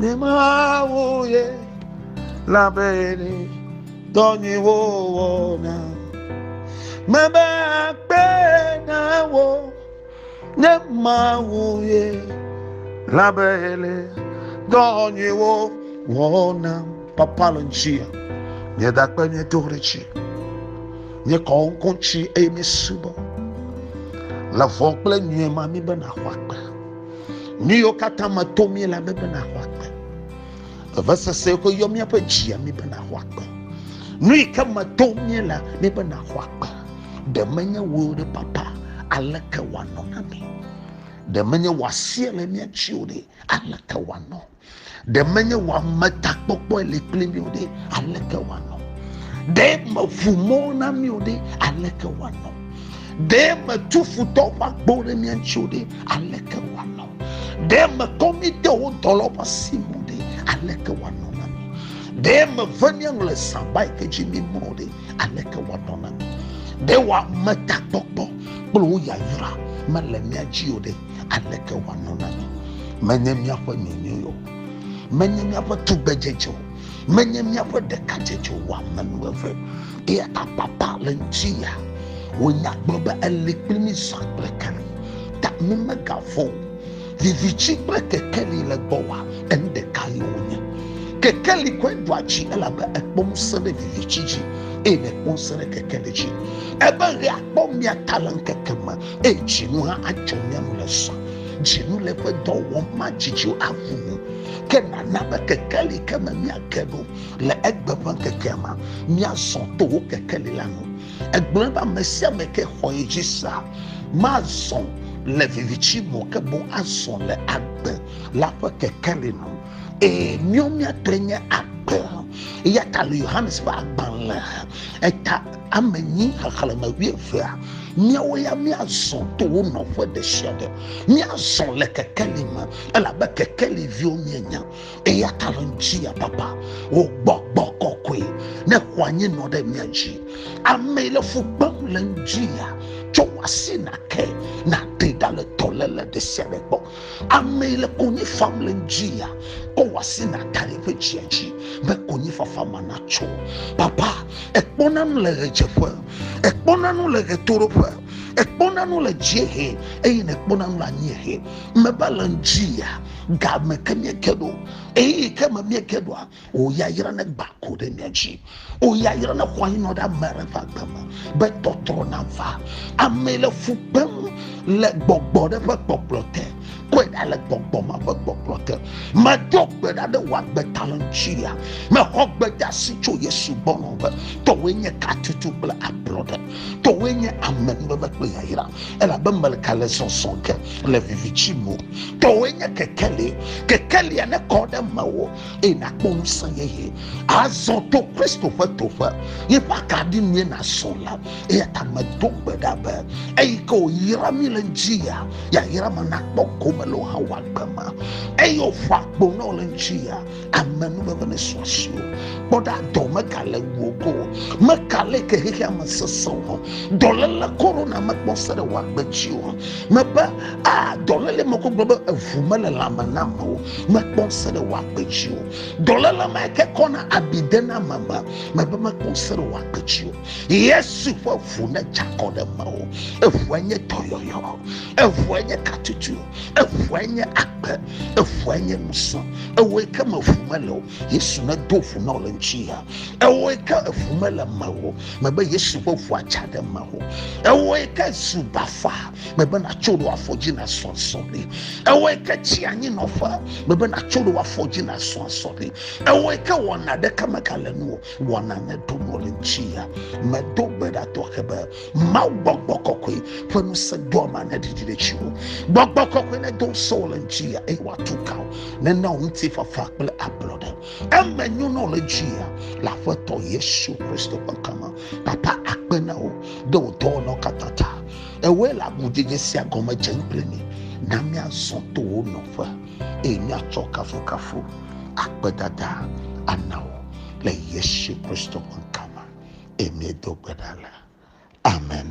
Ne mawu ye labene dɔ nyuiwo wɔna. Mebe akpe na wo ne mawu ye labene dɔ nyuiwo wɔna. Papa le ŋutia, nye dakpe nye do ɖe dzi. Nye kɔ ŋkɔ dzi eye mesubɔ le vɔ kple nyuie ma mi be nàxɔ akpe. Nu yiwo katã me to mí la be bena xɔ agbe. Vevesese yiwo yɔ míaƒe dzia mi bena xɔ agbe. Nu yi ke me to mí la mi bena xɔ agbe. Ɖe menye wo ɖe papa aleke wòanɔ na mi? Ɖe menye wòasie le mía dzi o ɖe aleke wòanɔ? ɖe menye wɔametakpɔkpɔe le kpli mi o ɖe aleke wòanɔ ɖe meƒu mɔ na mi o ɖe aleke wòanɔ ɖe metu futɔ ƒe agbo ɖe mia ŋuti o ɖe aleke wòanɔ ɖe mekɔ mi de wo dɔlɔ ƒe asi me o ɖe aleke wòanɔ na mi ɖe meve miaŋlɔ saba yi ke dzi mi mɔ o ɖe aleke wòanɔ na mi ɖe wɔametakpɔkpɔ kple wo yayra mele mia dzi o ɖe Aleke wòanɔ na mi? Menye míaƒe nyonyoe o, menye míaƒe tugbedzedze o, menye míaƒe ɖekadzedze o, ame nu eve. Eye apapa le ŋuti ya. Wònya gblɔ be ele kpli mí zã kple kali. Ta mí megavɔ̃ o. Viviti kple kekeli le gbɔ wa, enu ɖeka ye wonye. Kekeli kɔe ɖoa dzi elabe ekpɔ ŋusẽ ɖe viviti dzi eye nèkpɔ ŋusẽ ɖe kekeli dzi. Ebe ɣe akpɔ mia ta le ŋkeke me. eye dzinu hã adzɔ mía nu le zã. Dzinu le eƒe dɔ wɔm madzidziwo aʋu nu, ke nana be kekeli ke me míage ɖo le egbe ƒe ŋkekea ma, míazɔ to wò kekeli la nu. Egblɔe be ame sia ame ke xɔ ye dzi sea, mazɔ le viviti me o, ke boŋ azɔ le agbe la ƒe kekeli nu. Ee, míawo míatɔe nye agbe. Eya ta le Yohanes ƒe agbalẽ eta ame nyi xexlẽme wuievea míawo ya míazɔ to wo nɔƒe ɖe sia ɖe míazɔ le kekeli me elabe kekeli viwo míenya eya ta le ŋuti ya papa wò gbɔgbɔ kɔkɔe ne xɔ anyi nɔ ɖe mía dzi ame le fu gbem le ŋuti ya tsɔ wò asi nake nàɖe ɖa le dɔléle ɖe sia ɖe gbɔ Ame yi le konyi fam le ŋdzi ya, kɔ wò asi nàka ɖe eƒe dzia dzi be konyifafa ma natso. Papa, ekpɔna nu le ɣedzeƒe, ekpɔna nu le ɣetoɖoƒe, ekpɔna nu le dziehe eye nekpɔna nu le anyiehe. Meva le ŋdzi ya, ga me ke míege ɖo, ɣeyiɣi ke me míege ɖoa, O yayra ne gba ko ɖe mia dzi. O yayra ne xɔ anyinɔ ɖe ame aɖe ƒe agbe me be tɔtrɔ nava. Ame le fu kpem le gbɔgbɔ ɖe ƒe kpɔkplɔ te. Kɔe ɖa le gbɔgbɔ ma ƒe kpɔkplɔ te. Medo gbe ɖa ɖe wò agbe ta le ŋutia. Mexɔ gbedasi tso Yesu gbɔ nɔ be tɔwoe nye katutu kple ablɔɖe. Tɔwoe nye amenuveve kple yayra. Elabe meleka le zɔzɔ ge le viviti me. Tɔwoe nye kekeli. Kekelia nekɔ ɖe mewò. eye nàkpɔ ŋusẽ yeye azɔ to kristo ƒe toƒe yi ƒe akaɖi nue nazɔ la eya ta medo gbe ɖa be eyi ke wòyra mi le ŋdzi ya yayra me nakpɔ gome le wohã wòagbe ma eye wòƒo akpo na wo le ŋdzi ya ame nuveve ne sɔ asi o kpɔ ɖa dɔ megale wuogo mekale ke xexea me sesẽ o dɔléle korona mekpɔ se ɖe wòagbe dzi o mebe a dɔléle mekɔ gblɔ be evu mele lãme nam o mekpɔ ŋusẽ ɖe wò agbe dzi o. Dɔléle ma ke kɔna abi dena ame me, mebe mekpɔ ŋusẽ ɖe wò agbe dzi o. Yesu ƒe ʋu ne dza kɔ ɖe mewò. Eʋua nye dɔyɔyɔ, eʋua nye katutu, eʋua nye agbe, eʋua nye ŋusẽ. Ewoe ke me ʋu mele o. Yesu ne do ʋu na wò le ŋuti ya. Ewoe ke eʋu mele mewò. Mebe Yesu ƒe ʋua dza ɖe mewò. Ewoe ke zu bafa. mebe natso ɖo afɔ dzi nasɔ asɔ ɖi ewɔe ke tsi anyi nɔƒe mebe natso ɖo afɔ dzi nasɔ asɔ ɖi ewɔe ke wɔna ɖeka megale nu o wɔna meɖo mo le ŋuti ya medo gbe ɖa tɔxe be mawu gbɔgbɔ kɔkɔe ƒe ŋusẽ do ama ne ɖiɖi ɖe tsi o gbɔgbɔ kɔkɔe ne do ŋusẽ wo le ŋuti ya eye wòatu ka o nena wo ŋuti fafa kple ablɔɖe eme nyo na wo le ŋuti ya le aƒetɔ yesu kristo ƒe ŋkɔ me papa akpe na wo ɖe wo dɔwɔlawo katã ta Ewɔe le agudzedze sia gɔme dze kple mi. Na míazɔ to wò nɔƒe, eye míatsɔ kafukafu, akpedada ana wò le Yesu Kristo ƒe ŋkɔ me. Eye míedo gbe ɖa le. Amen.